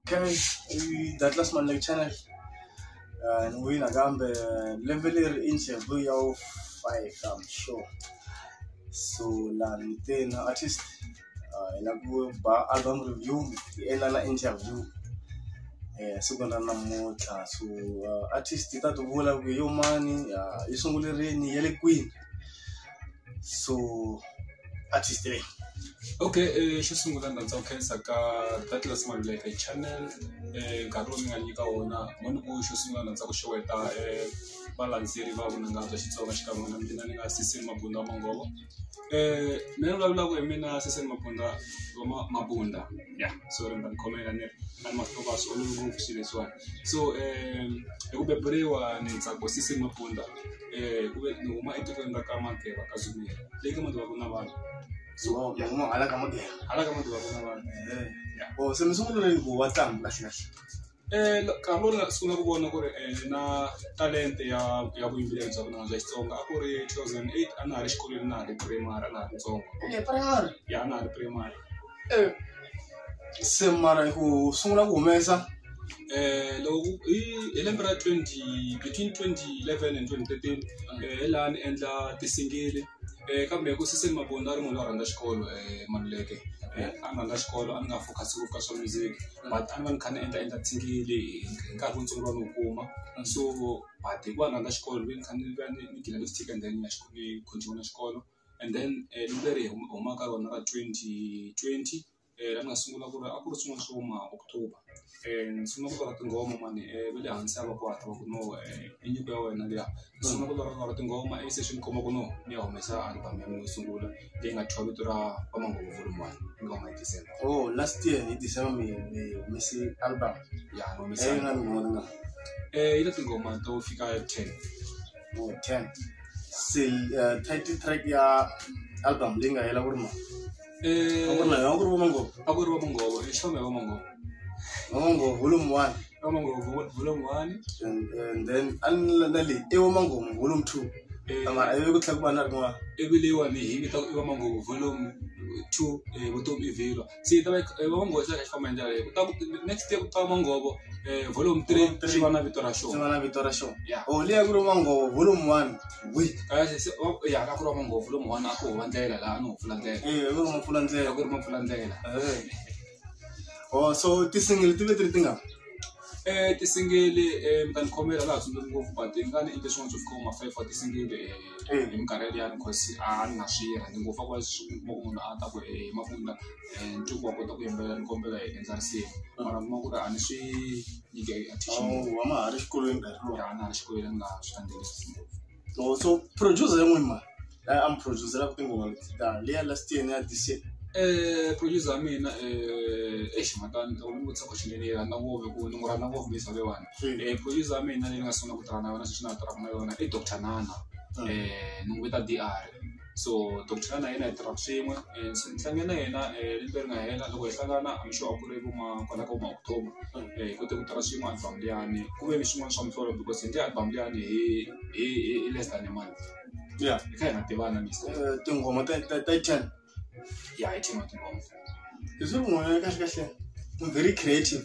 okay i douglas manley channel uh, ni wina kambe lembe leri i nxevu ya wu five i'm sure so lani te na artist hi lava ku ba album review hi endla na interview siku ra namuntlha so artist yi ta ti vula ku yo mani yi sungule rini ya le kwini so artist leyi okay xo sungula ndzi rhandza ku khensa ka Douglas Maluleke channel nkarhi lowu mi nga nyika wona mo ni ku xo sungula ndzi rhandza ku xeweta valandzeri va vunanga bya Xitsonga xikan'we na mina ni nga Sisini Mabunda wa Manghovo. mina ni vulavulaka hi mina Sesani Mabunda wa Ma Mabunda ya so ni ta mi khomela ni na ni mahlo va swi olovi ngopfu swilo leswiwani so hi ku beburiwa ni tsako Sesani Mabunda hi ku ve ni huma etikweni ra ka Mageba ka Zululand leyi ka Mageba ku na vanhu so ya huma hala ka Mageba hala ka Mageba ku na vanhu ya oh se mi sungule rini ku va tlangi kahle kahle. nkarhi lowu ni nga sungula ku vona ku ri ni na talenta ya ya vuyimbeleri bya vunanga bya Xitsonga a ku ri two thousand and eight a na ha ri xikolweni na ha ri primary a na ha ri ntsongo ya a na ha ri primary se mara ku sungula ku humesa loko hi hi lembe ra twenty between twenty eleven and twenty thirteen hi laha ni endla ti-single-i. Eh, kambe ku siseni mabunda a ri munhu loyi a rhandza xikolo um maluleke um a ni rhandza xikolo a ni nga focus-i ngopfu ka swa music but a ni va ni kha ni endla entertain-ile hi nkarhi wutsongo lowu a ni wu kuma so but hikuva ni rhandza xikolo ni ve ni kha ni va ni ni gina lipstick and then ni ya ni continue na xikolo and then lembe leri hi humaka ka rona ra twenty twenty. la ni nga sungula ku ri a ku ri swin'wana swo huma October ni sungula ku lorha tinghoma mani va le hansi a va kwata va ku no i nyiko ya wena liya ni sungula ku lorha lorha tinghoma ivi se swi ni khoma ku no ni ya humesa album ya mina yo sungula leyi nga thyiwa vito ra Vamanghovo volume one hi nga huma hi December oh last year hi December mi mi humese album ya ni humesa leyi nga ni n'wana na eh yi na tinghoma to fika ten oh ten se title track ya album leyi nga hela ku ri mani Eh, Aku na aku rumah ngopo. aku ri vamongovo i xome hi vamongovo Mama ngopo volume 1 vamongovo vula n'wani and, and then an na le e mama ngopo volume 2. Eh. Mara ayo ku tlhaku bana rin'wa. ivi leyiwani hi vita ku i vamongovo volume two eh, vutomi i vhilwa se yi ta va yi- eh, vamongovo xi ta kha xi famba hi ndlela leyi kutaka next year ku ta vamongovo eh, volume three Volume three. xi va na vito ra xona Singana vito ra xona. Yeah. Oh, liya ku ri mama ngopo volume 1. ya a ku ri wa manghopfu lomawani a ku huva ndlela laha a ni hupfula ndlela a ku ri ma pfula ndlela ku ri ma pfula ndlela o so tisingili ti ve ti ri ti nga um tisingili um ta ni khomela laha tsundzuki ngopfu but i nga ni endle swin'wana swo fika vo ma-five wa tisingili um hi minkarhi yaliyani cause a ni nga swi rhandzi ngopfu a ku ri swi kuma ku munhu a ta ku um mavundla um ncuva wa kota ku yimbelela ni kombela hi endla risimu mara kuma ku ri a ni swi nyika ya Tishimori. hama ha ri xikolweni nkarhi lowu Ya na ha ri xikolweni a ni nga swi landzelerisi ngopfu. so so producer yin'we ma la a mi produceraka tinghoma leti ta leya last year ni ya this year Eh, producer wa mina eh, eish matani loko ni vutisa question leyi ni yi rhandza ngopfu hikuva ni n'wi rhandza ngopfu misa leyiwani Mm. Eh, producer wa mina leyi ni nga sungula ku tirha na yona sweswi na ha tirhaka na yona i doctor nana Mm. Eh, ni n'wi vita dr so doctor ya na yena hi tirhaka swin'we and se ni hlange na yena lembe ri nga hela loko hi hlangana I'm sure a ku ri vo ma kwala ka vo ma October hi kote ku tirha swin'we album liyani ku ve ni swin'wana swa muhlovo because hi endle album liyani hi hi hi hi less than a month ya hi kha hi nga tivana Mister Eh, tinghoma ta ta ta ten ya hi ten wa tinghoma hi swi munhu ya kahle kahle I'm very creative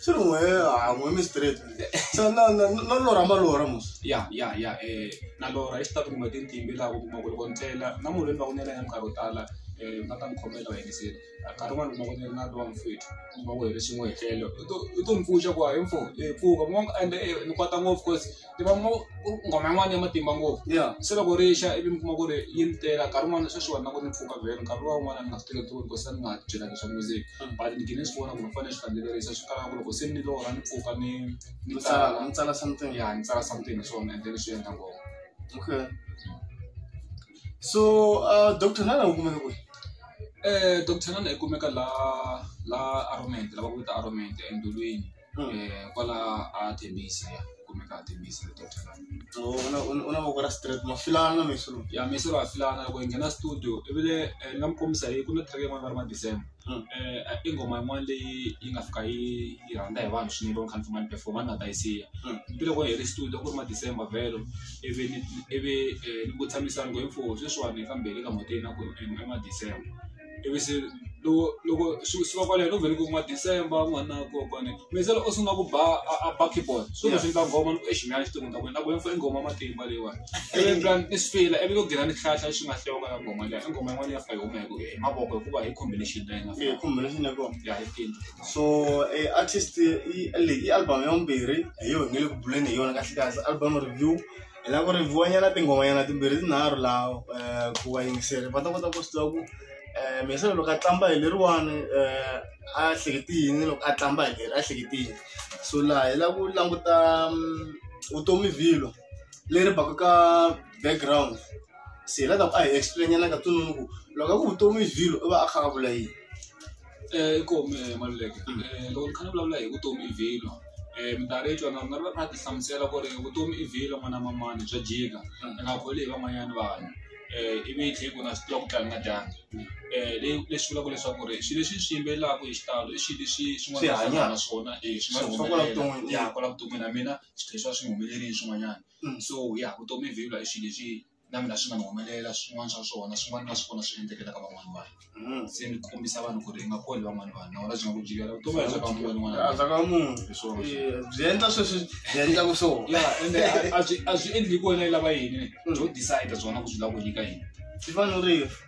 se ri n'we ha n'we mi straight se na na na lora ma lora mos ya ya ya eh na lora i xitatu kumbe tintimbi laha ku kuma ku loko ni tlela na munhu loyi ni va ku ni yena nkarhi wo tala um u nga ta ni khomela u hetisile nkarhi wun'wani kuma ku ni na lowa mfwethu kuma ku hi ri swin'we hi tlele u to u to ni pfuxa ku hayi mfo pfuka ende ni kwata ngopfu cause tiva ngo ku nghoma yin'wana ya matimba ngopfu ya se loko ri xa ivi mi kuma ku ri yi ni tela nkarhi wun'wana sweswi vanhu na ku ni mpfuka vhele nkarhi luwa wun'wana ni nga swi teketiwi because a ni nga byela leswa music Mm. but ni gine ni swi vona ku ni fanele swi landzelerisa swi kala ku loko se ni lorha ni pfuka ni ni mi tsala tsala mi tsala something ya ni tsala something hi swona and then swi endla ngoma okay so uh, dr nana u kumeka kwihi Eh, Dr. Nana ikumeka la la Aramente, lava ku vita Aramente endulwini. Eh, kwala a thembisa ya kumeka a thembisa le tota u na voko ra straight ma filana na mesolo ya mesolo a filana loko hi nghena studio ivile eh, ni nga mi kombisa hi ku na track yin'wana va ri ma december hmm. eh, i nghoma yin'wana leyi yi nga fika yi yi rhandza hi vanhu swinene va khanifuma ni performa ni nga ta yi siya hmm. ivi loko hi ri studio ku ri ma december vhelo ivi ivi ni ku tshamisana ku hi mfuwo sweswiwani kambe le ka mhoteni na ku i ma december ivi se loko loko swi suka kwaleno no vhela ku kuma December u nga ri na koho kwale mi se loko u sungula ku ba a a ba keyboard swi ta swi endla nghoma ni ku exi nyana xitori ni ta ku ni ta ku ni fane ni nghoma matimba leyiwani ivi ni twa ni swi fila ivi ku nghena ni hlahla xi nga hlewanga ya nghoma liya i nghoma yin'wana leyi nga fika yi huma hi ku hi mavoko hikuva hi combination leyi nga fika combination ya kona ya hi tini so artist leyi i album ya vumbirhi hi yona hi nge le ku buleni hi yona kahle kahle album review. hi lava ku ri byiwanyana tinghomanyana timbirhi tinharhu laha ku va yingisela va ta kota ku swi tiva ku Mesiya loko a qambha hi leriwani a hlekete yini loko a qambha hi leri a hlekete yini so laha hi lava ku languta vutomi vhilwa leri baka ka background se hi la ku ta ku a hi explain-ela ka ku loko a ku vutomi vhilwa u va a kha a vula yini. I koho mehe Maluleke loko ni kha ni vulavula hi vutomi i vhilwa minkarhi yo tala ni nga ti hlamusela ku ri vutomi i vhilwa n'wana wa manana bya jika i nga boli hi van'wanyana vanhu ivi hi tlhela ku na swi tiva ku nga dyanga leswi vulaka leswaku ri swilo leswi hi swi yimbelelaka hi xitalo i swilo leswi swin'wana na swona i swi nga humelela kwala vuton'wini na mina swi tlhela swi va swi humelerile swin'wanyana so ya vutomi i vhilwa i swilo leswi. na mina swi nga ni humelela swin'wana swa swona swin'wana na swona swi endlekela ka van'wana vanhu hmm. se ni kombisa vanhu ku ri i nga koli van'wana vanhu na wona byi nga ku jikela vutomi bya ka munhu n'wana a bya ka munhu byi endla sweswi byi endla ku swo ya ende a byi a byi endli ku wena yi lava yini byo hmm. decide byona ku byi lava ku nyika yini byi fanele rifu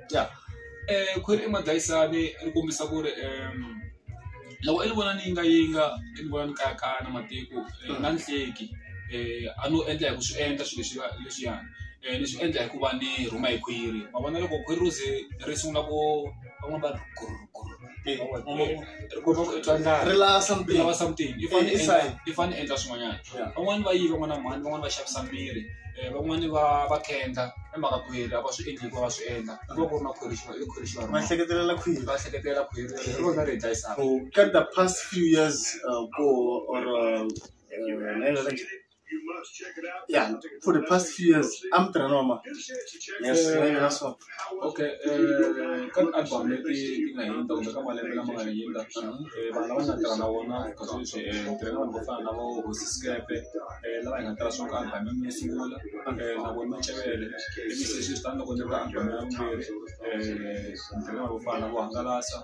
ya khwiri i madlayisani ri kombisa ku ri loko i ni vona ni yingayinga i ni vona ni kayakaya na matiko ni nga ni hleki a no endla hi ku swi endla swilo leswi va leswiyani ni swi endla hikuva ni rhuma hi khwiri ma vona loko khwiri ri ze ri sungula ku van'wani va ri gurhugurhu. ri lava something lava something i fane endla i fane endla swin'wanyana van'wani va yiva n'wana mhani van'wani va xavisa mirhi van'wani va va khendla i mhaka khwiri a va swi endli hikuva va swi endla ku va ku ri na khwiri xi va i khwiri xi va va hleketelela khwiri va hleketelela khwiri hi rona ri hi dlayisaka ka the past few years ku or Yeah, for the past few years, I'm Tranoma. Yes, very last one. Okay, eh, ka album leti ti nga hindza kumbe ka malembe lama nga hindza eh, vanhu lava nga tirha na vona ka sweswi eh, ni tirha na vanhu vo fana na vo hosi sikepe eh, lava hi nga tirha swona ka album ya mina yo sungula eh, na vona macevele ivi sweswi swi tani loko ni ri ka album ya vumbirhi eh, ni tirha na vanhu vo fana na vo hangalasa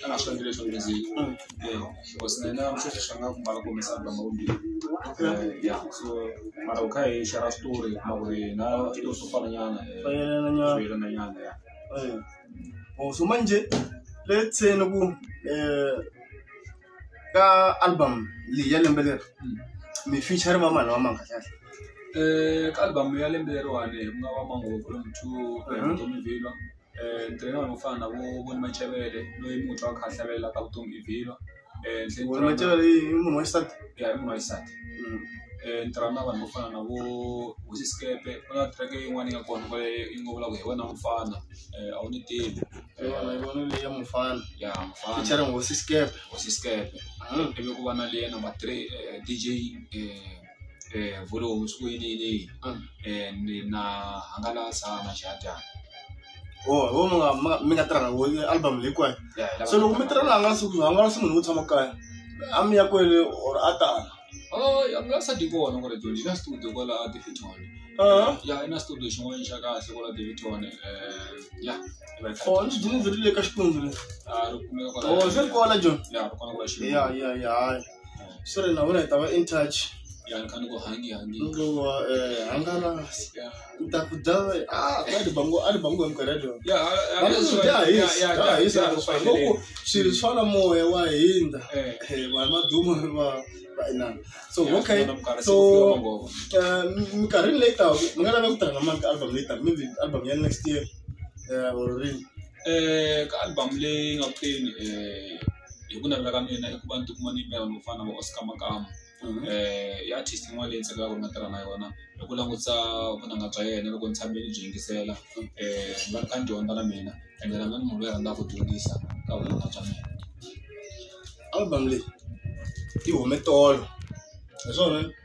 kana swi fanele leswi leswi because na yena sweswi swi nga ku mbala ku humesa banga wo biha ya so mara u kha hi share story hi kuma ku ri na switori swo fana nyana swo Fayelananyana. yelana nyana ya Eh. Oh, so manje let's say ni ku eh ka album leyi ya lembe leri mi feature va mani va manga kahle Eh, ka album ya lembe leriwani ku nga va mango volume two ku ya hi Mhm. Tommy Villa Ntirho wo fana na vo Voni Machevele loyi munhu a kha a hlavelelaka vutomi hi vhilwa Voni Machevele i munhu wa xisati ya i munhu wa xisati ni tirha na vanhu vo fana na vo Hosi Xikepe ku na track yin'wana yi nga kona kwale yi ngo vulavula hi wena mufana a wu ni tivi hi yona hi yona leyi ya mufana ya mufana featuring Hosi Xikepe Hosi Xikepe ivi ku va na leyi ya number three D_J . eh vhuri homu siku yini yini yini Ah. eh ni na hangalasa na xadyana ho ho mi nga mi nga- mi nga tirhana wo album leyi kwayo ya hi lava- so loko mi tirha na hangalasi ku hangalasi munhu wo tshama kaya a mi ya kwele or a tala oh ya nga sa di kona gore jo di na studio kwala a Davidton Ah. ya ina studio xin'wana xa kahle kwala Davidton eh ya va yi o ni dini byi ri le ka xikwembu le ah ri kumeka kwala o swi ri kona john ya ri kona kwala xin'wana ya ya ya hayi sore navona hi ta va in touch loko eh, hangalasi ku ta ku dya ah, a ni bango a ni bango hi mikarhi ya dyona dyahisahisahisagoku swilo swa la moya wa hindza eh. eh, vanhu va duma va va inana so okay so minkarhini leyi taka mi nga lava ku tirha na mani ka album leyi taka maybe album ya next year or rini ka album leyi nga kuteni hi ku navela ka mina i ku va ni tikuma ni yimbelela no fana na vo Oscar Makamu i artist yin'wana leyi ni tsakelaka ku nga tirha na yona hi ku langutisa vunanga bya yena loko ni tshame ni byi yingisela ni va ni kha ni dyondza na mina ende na mina ni munhu loyi a rhandzaka ku dyondzisa ka vunanga bya mina album leyi yi hume tolo hi swona.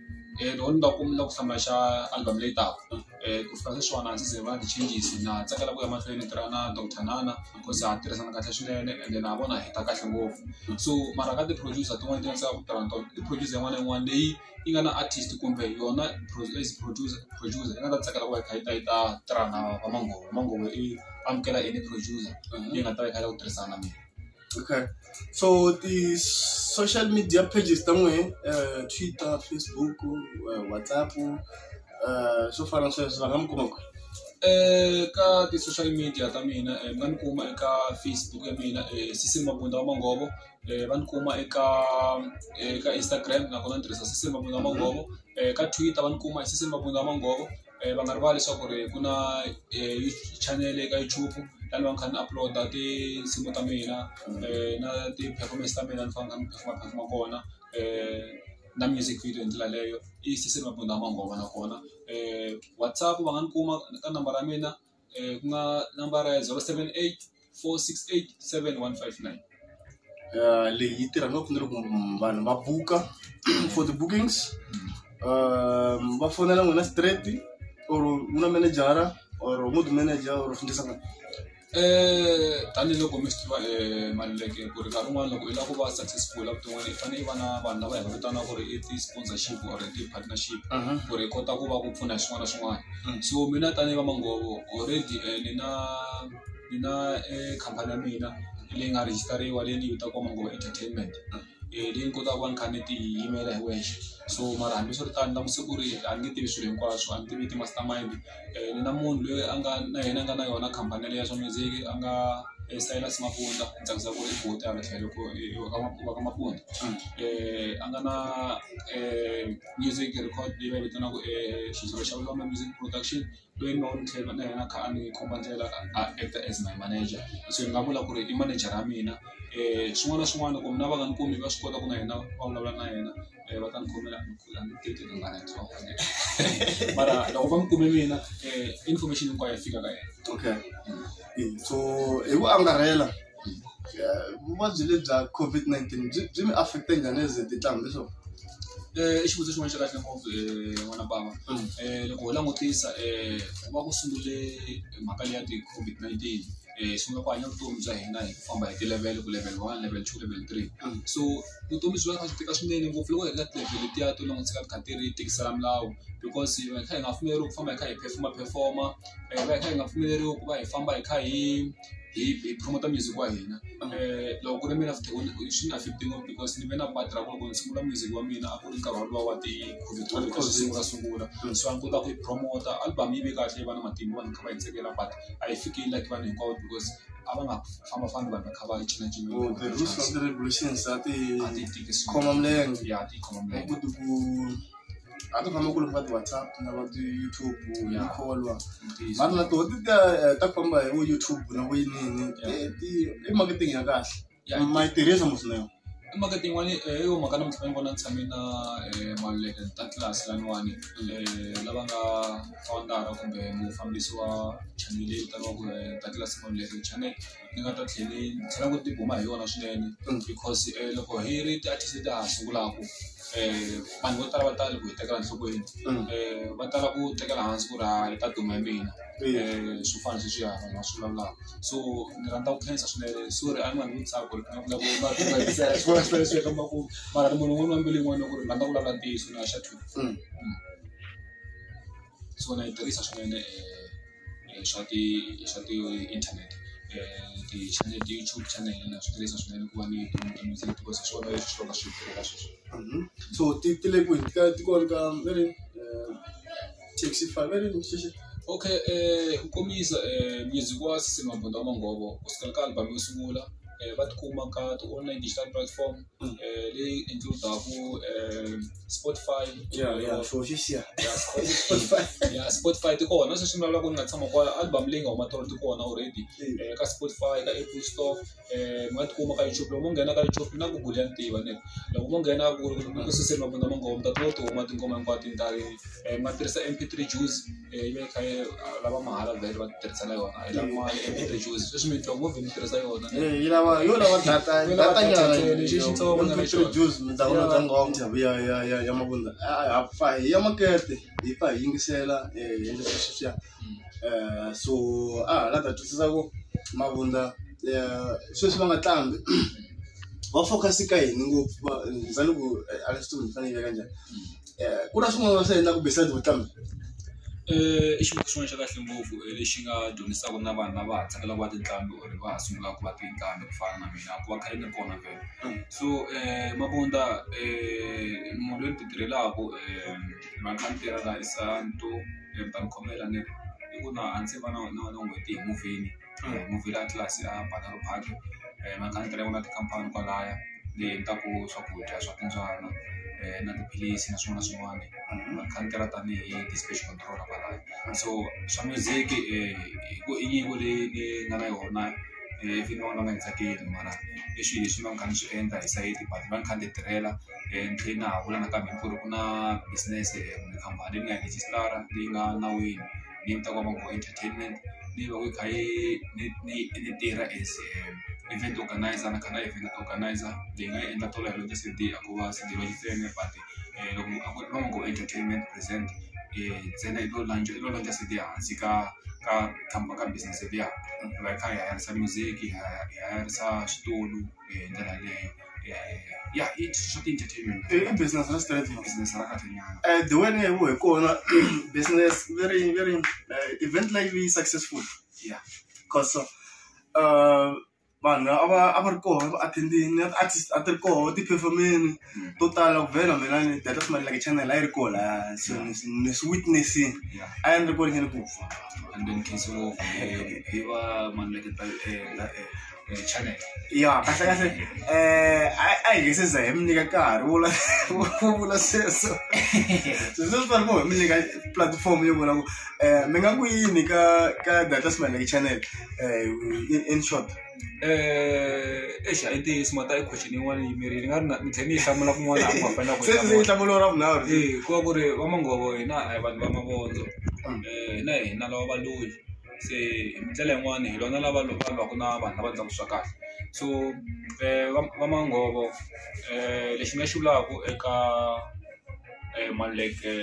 loko ni va ku ni lava ku hlawula xa album leyi taka ku fika sweswiwani a ndzi se va na ti-changes na tsakela ku ya mahlweni ni tirha na doctor nana because ha tirhisana kahle swinene ende na vona hi ta kahle ngopfu so mara ka ti-producer tin'wani ti nga tsaka ku tirha na tona i producer yin'wana na yin'wana leyi yi nga na artist kumbe yona as producer producer yi nga ta tsakela ku va yi kha yi ta yi ta tirha na va manghoma manghoma i amukela any producer leyi nga ta va yi kha yi lava ku tirhisana na mina. Okay. So the social media pages ta n'wehe uh, Twitter, Facebook, uh, WhatsApp uh, swo fana na sweswo va nga mi kuma kwihi? Eh, ka ti-social media ta mina eh, mi nga ni kuma eka facebook ya mina eh, sisi mabunda wa mangovo eh, va ni kuma eka eh, eka instagram nakona ni tirhisa sisi mabunda wa mangovo eh, ka twitter va ni kuma hi sisi mabunda wa mangovo va nga rivali leswaku ri ku na channel eka YouTube la ni va ni kha ni upload-a tinsimu ta mina na ti-performance ta mina ni fanele ni kha ni perform-a perform-a kona na music video hi ndlela leyo i Sesi Mabunda Mangoma nakona WhatsApp va nga ni kuma ka nambara ya mina. eh, ku nga nambara ya 078 468 7159 Uh, leyi yi tirha ngopfu ni loko vanhu va buka for the bookings um, va fonela n'wina straight or n'wina manejara or n'wuti manager or fundisa n'wina Eh, tanihiloko mi swi tiva eh, maluleke ku ri nkarhi un'wana loko i lava ku va successful evuton'wini i fanele i va na vanhu lava hi va vitanaka ku ri i ti-sponsorship or i ti-partnership ku ri i kota ku va ku pfuna hi swin'wana na swin'wana so mina tanihi va manghhovo already ni na ni na khampani ya mina leyi nga rejistariwa leyi ni yi vitaka Manghova Entertainment leyi ni kotaka ku va ni kha ni ti yimela hi wexe so mara hambiswiritano ni langutise ku ri a ni nge tivi swilo hinkwaswo a ni tivi ti-master mind ni na munhu loyi a nga na yena a nga na yona khampani yaleyo ya swa music a nga Silas Mabunda ni tsakisa ku ri i buti hala tlhelo wa ka Mabunda a nga na . music record leyi va vitanaka xizulu xa vulombe music production loyi ni va ni tlhela na yena a kha a ni komba ndlela a actor as my manager se ni nga vula ku ri i manejara ya mina um swin'wana na swin'wana loko mina va nga ni kumi va swi kota ku na yena va vulavula na yena um va ta ni khomela ni kula ni teke tingana ntsongo mara loko va ni kume mina um information hinkwayo yi fika ka yena okay so hi ku angarhela vuvabyi lebyi bya COVID-19 byi byi mi affect-e njhani as tinhlambi so i xivutiso xin'wana xa kahle ngopfu n'wana bava loko ho langutisa ku va ku sungule mhaka leyi ya ti-COVID-19 hi sungula ku hanya vutomi bya hina hi ku famba hi ti-level ku level one level two level three so vutomi byi va byi kha byi tika swinene ngopfu loko hi ri ka ti-level letiya to langutisa ka ti kha ti ri tikisela milawu because hi va hi kha hi nga pfumeleriwi ku famba hi kha hi perform-a perform-a hi va hi kha hi nga pfumeleriwi ku va hi famba hi kha hi. hi hi promote music wa hina loko ku ri mina swi ni affect-i ngopfu because ni ve na part ra ku loko ni sungula music wa mina a ku ri nkarhi wolowo wa ti-COVID twenty ka swi sungula sungula so a ni kota ku yi promote album yi ve kahle yi va na matimba vanhu kha va yi tsakela but a yi fiki yi like vanhu hinkwavo because a va nga fambafambi vanhu va kha va yi cinacina Oh, the rules of the regulations a ti a ti tiki khoma milenge ya ti khoma milenge ku ti ku a ti famba kule ka ti-whatsapp na va ti-youtube na kholwa mara na toho ti ta eh, ta famba hi vo youtube na vo yinini Eh, ti- i marketing ya kahle Ya, i- ma yi tirhisa musinayo i mhaka tin'wani eh, yo mhaka namuntlha ni vona ni tshame na eh, maluleke ta tlilasi laniwani eh, lava nga founder kumbe mufambisi wa chanele leyi vitaniwaku eh, ta tlilasi maluleke channel ni nga ta tlhela ni tlhela ni tibuma hi yona swinene because loko hi ri ti-artist ta ha sungulaka vanhu vo tala va tala ku hi tekela enhlokweni va tala ku tekela hansi ku ri ha yi ta duma hi mina swo fana na sweswiya vanhu va swi vulavulaka so ni rhandza ku khensa swinene sorry a ni nga n'wi tsaka ku ri ni nga vulavula ku mara munhu un'wana na mbilu yin'wana ku ri ni rhandza ku vulavula ntiyiso na xa two. so na yi tirhisa swinene swa ti swa ti inthanete ti-channel YouTube channel na swi tirhisa swinene ku va ni so ti ti le kwihi ti ka ti kona ka va ri taxi five va ri okay ku kombisa music wa Sisi Mabunda wa Mongovo kusukela ka album yo sungula va tikuma ka ti-online digital platform. eh, ley into Dahu, eh, Spotify. Yeah, yeah, eh, for this year. Yeah, Spotify. yeah, Spotify ti kona sweswi mi lavaka ku ni nga tshama kwa album leyi nga huma tolo ti kona already eh, ka Spotify ka Apple Store eh mi nga tikuma ka YouTube loko mo nghena ka YouTube na Google ya ni tiva ne loko mo nghena ku ku suseni mabunda mo ngoma ta to to huma tingoma hinkwato ti ndari eh mi nga tirhisa MP3 Juice yi ve yi kha yi lava mahala vhele va tirhisela yona yi lava mali and yi reduce sweswi mi twa ngo vhe mi tirhisa yona ne Eh, yi lava yo lava data Yo lava data nyana data ntsena, lexi xitsongo na lexi- produce mi download Ya. ngoma ya ya ya ya mavunza Ah, ha fa hi ya makete hi fa hi yingisela eh, hi endla sweswi swiya Eh, so a ha la ta twisisa ku mavunza eh, sweswi va nga tlambi va focus ka yini ngopfu va- ni zani ku eh, a leswi ni fanele yi veka njhani ku na swin'wana va swi endlaka besides ku tlanga i xin'wana xa kahle ngopfu lexi nga dyondzisaka na vanhu lava ha tsakelaka ku va tinqambi or va ha sungulaka ku va tinqambi ku fana na mina ku va kha ni ri kona vhele so mavundla munhu loyi ni ti tirhelaku va kha ni tirhela hi santu ni ta mi khomela ni ri i ku na a ndzi se va na na na n'hweti hi muvheni. movie la atlas ya banana park um na khandziyile na tikhampani kwalaya leyi endlaku swakudya swa timbyana um na tiphilisi na swin'wana na swin'wana na khandziya ra tanihi ti-speech control kwalaya so swa music ku i nyiko leyi ni nga na yona ivi ni vona nga yi tsakeli mara i swilo leswi va nga ni swi endla hi sayiti but va ni kha ni ti tirhela ni tlhe na ha vula nakambe ni ku ri ku na business kumbe khampani leyi ni nga yi rejistara leyi nga nawini. ni yi vitaka Mango Entertainment ni yi veke yi kha yi ni ni ni tirha as event organiser ni kha ni event organiser ni nga yi endla tolo yaleyo Cde a ko va Cde va Xitsonga but loko a ku ri na Mango Entertainment present ntsena i lo launch i lo launch Cde ehansi ka ka ka ka business liya hi va hi kha hi hayarise music hi hayarisa switulu. hi ndlela leyo ya i swa ti-entertainment i i business ra straight ma business ra kahle nyana Eh, the way ni ngo hi kona business very very eh, event leyi yi successful ya cause uh, vanhu a va a va ri koho va attendini artist a ti ri koho ti-performeni to tala ku vhela mina ni data swi like channel a yi ri ko la so ni swi- ni swi witnessini a yi ri ko ringene ku pfa and then khisi ngopfu eh, hi va maneketa channel ya kahle kahle um a hi nge se za hi mi nyika nkarhi wo la- wo vula sweswo so swi swi fanele ku hi mi nyika platform yo vula ku um mi nga ku yini ka ka data swi like channel um in short exi a hi ntiyiso mhaka ta ekhixini yin'wana yi yimerile ni nga ri na ni tlhe ni yi hlamula kun'wana ku hambana ku se ni yi hlamula ra vunharhu se ku va ku ri va manghhovo hina a hi vanhu va mavondzo hina hi hina lava valungu se hi ndlela yin'wani hi lwana lava loko va lwaka na vanhu lava endlaku swa kahle so va va manghhovo lexi ni nga xi vulaku eka. Maluleke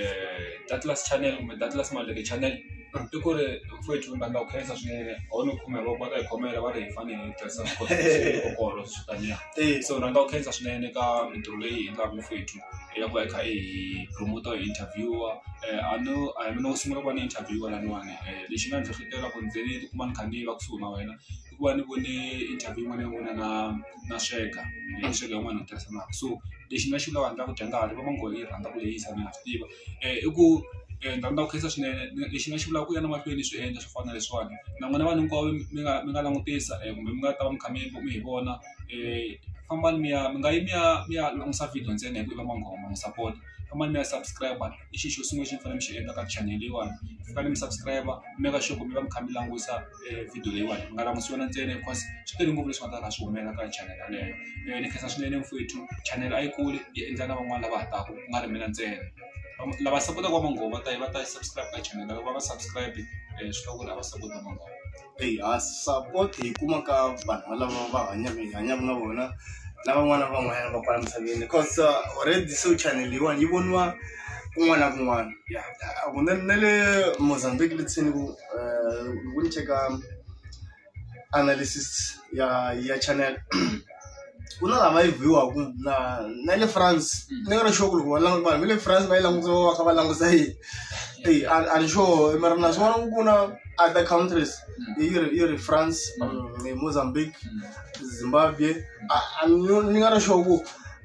Atlas channel kumbe Atlas Maluleke channel i ku ri futhi ni rhandza ku khensa swinene a wu ni khume hi voko va ta hi khomela va ri hi fanele hi tirhisa swikolo swi taniya so ni rhandza ku khensa swinene ka mintirho leyi hi endlaka futhi hi ya ku va hi kha hi promote-a hi interview-a a no a hi mina wo sungula ku va ni interview-a laniwani lexi nga ni hlohletela ku ni ze ni tikuma ni kha ni va kusuhi na wena. I ku va ni vone interview yin'wana ya vona na na sweka sweka yin'wana hi tirhisanaka so lexi ni nga xi vulaka handle ka ku dya ngati va ngo yi rhandza ku lehisa na ha swi tiva i ku ni rhandza ku khensa swinene lexi ni nga xi vulaka ku ya emahlweni ni swi endla swo fana na leswiwani na n'wina vanhu hinkwavo mi nga mi nga langutisa kumbe mi nga ta va mi kha mi mi hi vona fambani mi ya mi nga yi mi ya mi ya langusa video ntsena hi ku i va n'wangoma n'wi sapota fambani mi ya subscribe. i xi xo sungula lexi ni fanele ni xi endla ka chanel leyiwani ni fanele ni subscribe ni make sure ku mi va mi kha mi langusa video leyiwani mi nga languti yona ntsena because swi tele ngopfu leswi nga ta ka swi humelela ka chanel yaleyo mehe ni khensa swinene mfwethu chanel a yi kuli yi endla na van'wani lava ha taka ku nga ri mina ntsena lava sapotaka va manghoma va ta yi va ta yi subscribe ka chanel loko va nga subscribe swi vula ku ri a va sapoti va manghoma. Eyi ha support hi kuma ka vanhu lava va hanyaka hi hanyaka na vona na van'wana na van'wanyana va kwala misaveni coz already se chanel leyiwani yi voniwa kun'wana na kun'wana ya hakunene na le Mozambique le ndzeni ku loko ni cheka analysis ya ya chanel. ku na lama yi vhiwaku na na le france mm. ni nga ri sure ku loko vanhu va le france va yi langutisa va va kha va languta yini eyi a ni sure mara na swi vona ku ku na other countries mm. yi ri yi ri france mm. mozambique zimbabwe ni nga ri sure ku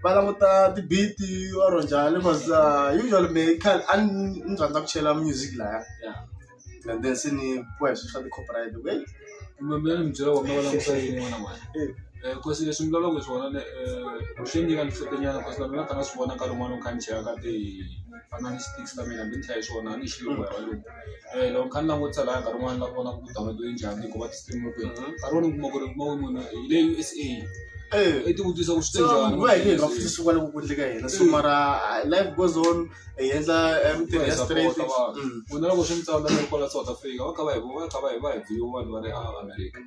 va languta tibiti or njhani bcause uh, usually me a ni rhandza ku chela music laya and then se ni boya swilo swa ti-copyright loko hey Mambe ni byela wa mavona ku sale ni n'wana mwana. Eh. Eh kosi leswi mi lavaka swona ne eh swi nyika ni hlekenyana kosi na mina ta nga swi vona nkarhi wun'wana kha ni cheka ka ti fana ni sticks ta mina ni hlaya swona ni xilo wa walo. Eh loko kha ni langutisa la nkarhi wun'wana la vona ku download yi njhani ku va ti stream ku. Nkarhi wun'wana kuma ku ri kuma munhu hi le USA. Eh i ti vutisa ku swi te njhani. Ku va hi le hi nga fiki swi vona ku ku endleka yena so mara life goes on. hi endla eh, mintirho ya straight ku na loko swi mi tsala mi kwala South Africa va kha va hi va kha va hi va hi view vanhu va ri a America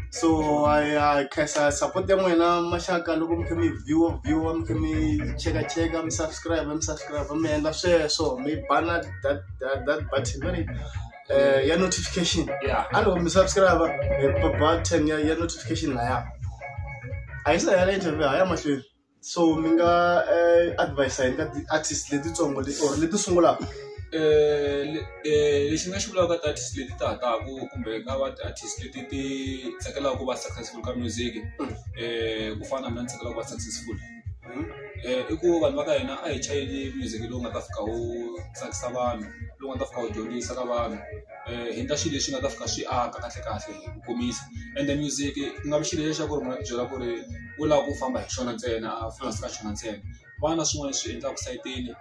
so I I khensa support ya n'wina maxaka loko mi kha mi view view mi kha mi cheka cheka mi subscribe mi subscribe mi endla sweswo mi bana that that that button very eh ya notification yeah a loko mi subscribe eh, button ya ya notification laya a yi sa ya interview haya mahlweni so mi nga advise hi nga ti-artist letitsongo leti or leti sungulaka lexi ni nga xi vulaka ka ti-artist leti ta ha taka kumbe ka va ti-artist leti ti tsakelaka ku va successful ka music ku fana na ni tsakelaka ku va successful i ku vanhu va ka hina a hi chayeli music lowu nga ta fika wu tsakisa vanhu lowu nga ta fika wu dyondzisa ka vanhu hi endla swilo leswi nga ta fika swi aka kahle kahle hi ku komisa ende music ku nga vi xilo lexi xa ku ri munhu a ti byela ku ri u lava ku famba hi xona ntsena a famba ka xona ntsena ku va na swin'wana leswi endlaka sayitini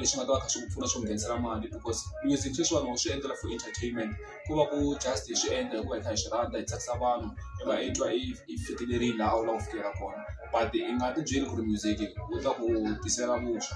leswi nga ta va kha swi ku pfuna swi ku nghenisela mali because music sweswiwani wa swi endlela for entertainment ku va ku just hi swi endla hikuva hi kha hi swi rhandza hi tsakisa vanhu hi va hi twa hi fikelerile laha u lava ku fikela kona but i nga ti byeli ku ri music wu ta ku tisela vuswa.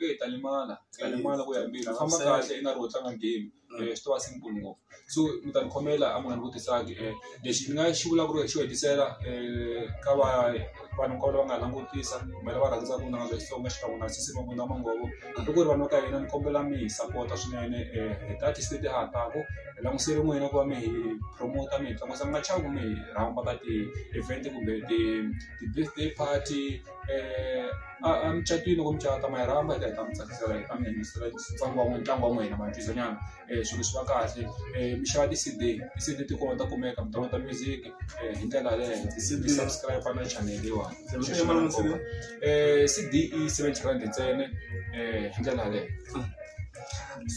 eyi ta limala ta limala ku ya embirhi u famba kahle i nga ri wo tlanga game swi to va simple ngopfu so mi ta ni khomela a mi nga ni vutisanga lexi ni nga xi vula ku ri xo hetisela ka va vanhu hinkwavo lava nga ha langutisa kumbe lava rhandzaka vunanga bya Xitsonga xikan'we na sesi Mabunda Manghovo hambi ku ri vanhu va ka hina ni kombela mi hi sapota swinene hi ti-artist leti ha taka hi langusele n'wina ku va mi hi promote mi hi tlangisa mi nga chavi ku mi hi rhamba ka ti-event kumbe ti ti-birthday party. eh, emucatwini loko mi cata ma yi rhamba eka hi ta mi tsakisela hi ta mi yingisela ntlangu wa ntlangu wa n'wina matwisanyana um eh, swilo swi va kahle um mi xava ti-cd ti-cd ti kona ta kumeka mi downloada music um hi ndlela yaleyo mi subscribe na channel leyiwani um cd i seventy rand ntsene um hi ndlela yaleyo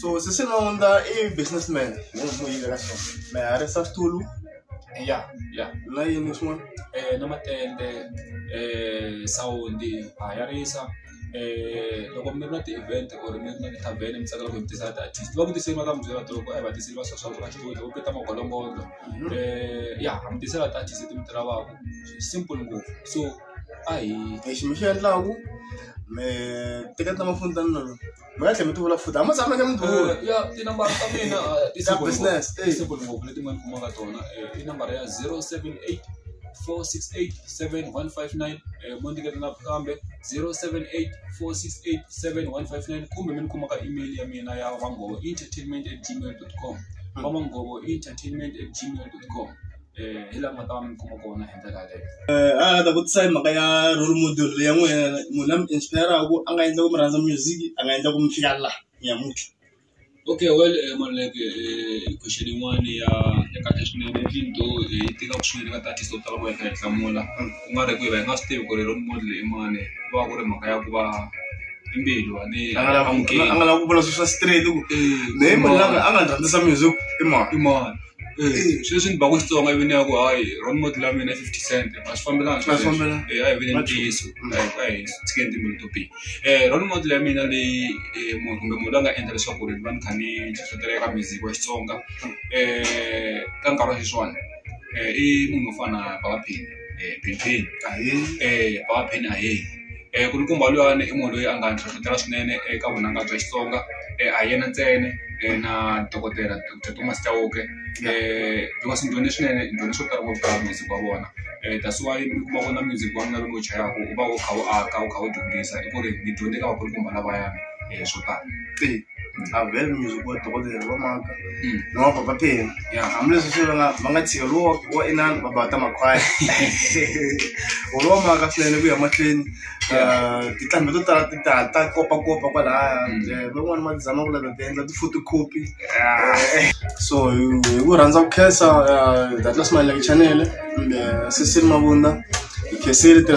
so sisinaonda i businessman hi n'wi yivela swona mi harisa switulu ya ya na yini swin'wana na matende sawundi ha ya risa loko mi ri na ti-event or mi ri na ti-tarven mi tsakela ku mi tisa ti-artist va ku tiseli va ta mi byela loko a hi va tiseli va swa swa ku va xitulu loko ku ta magolombolo ya ha mi tisela ti-artist leti mi ti lavaka simple ngopfu so a hi lexi mi xi endlaku mi teketa maphone ta mina. mi nga tlhela mi ti vula futhi a ma tshameke mi ti vula Eh, ya tinambara ta mina eh, ti Ta simple business, ngopfu. eh. Ti simple ngopfu leti mi nga ni kumaka tona Eh, i nambara ya 078 468 7159 eh, mo ndiketa na kambe 078 468 7159 kumbe mi ni kuma ka email ya mina ya vangovo entertainment at gmail com vamangovo entertainment at gmail com hi laha nga ta va mi kuma kona hi ndlela yaleyo a nga ta vutisa hi mhaka ya role model leyi ya n'wina munhu la mi inspire-ku a nga endla ku mi rhandza music a nga endla ku mi fika laha nyamuntlha okay well Maluleke question yin'wani ya ya kahle swinene even though hi tivaka swinene ka ti-artist to tala ku va hi kha hi hlamula ku nga ri ku hi va hi nga swi tivi ku ri role model i mani ku va ku ri mhaka ya ku va i mbilu a ni a nga lavi ku a nga lavi ku vula swilo swa straight ku mehe munhu la a nga ni rhandzisa music i mani i mani. sweswi ni ba ku Xitsonga i vini ya ku hayi wrong moti la mina i fifty cent a swi fambelani a swi fambelani a hi vuleni ntiyiso a hi tshikeni timbilu to biha wrong moti leyi ya mina leyi munhu kumbe munhu la nga endla leswaku ri ni va ni kha ni hlohletela eka music wa Xitsonga ka nkarhi wa sweswiwani i munhu wo fana na Baba Penny Benny Penny Baba Penny ahee. Nkulukumba loyiwani i munhu loyi a nga ni hlohlotela swinene eka vunanga bya Xitsonga a hi yena ntsena na dokodela doctor Thomas Chauke Thomas ni dyondze swinene ni dyondze swo tala ngopfu ka music wa vona that's why mi kuma ku na music wa mina lowu ni wu chayaka wu va wu kha wu aka wu kha wu dyondzisa hi ku ri ni dyondze ka vakulukumba lavayani swo tala. avhele music wa dokodela va maka na wa baba pheni Yeah. hambileswi swi vanga va nga tshika lowo wa inani va bata makhwaya olo wa maka swinene ku ya mahlweni Ah, tinqambi to tala ti ta ta kopakopa kwalaya Eh, van'wani va tizama ku lava ti endla ti-photocopy so hi hi ku rhandza ku khensa datlas malaki chanele kumbe sisiri mavunda hi khensile tirhisa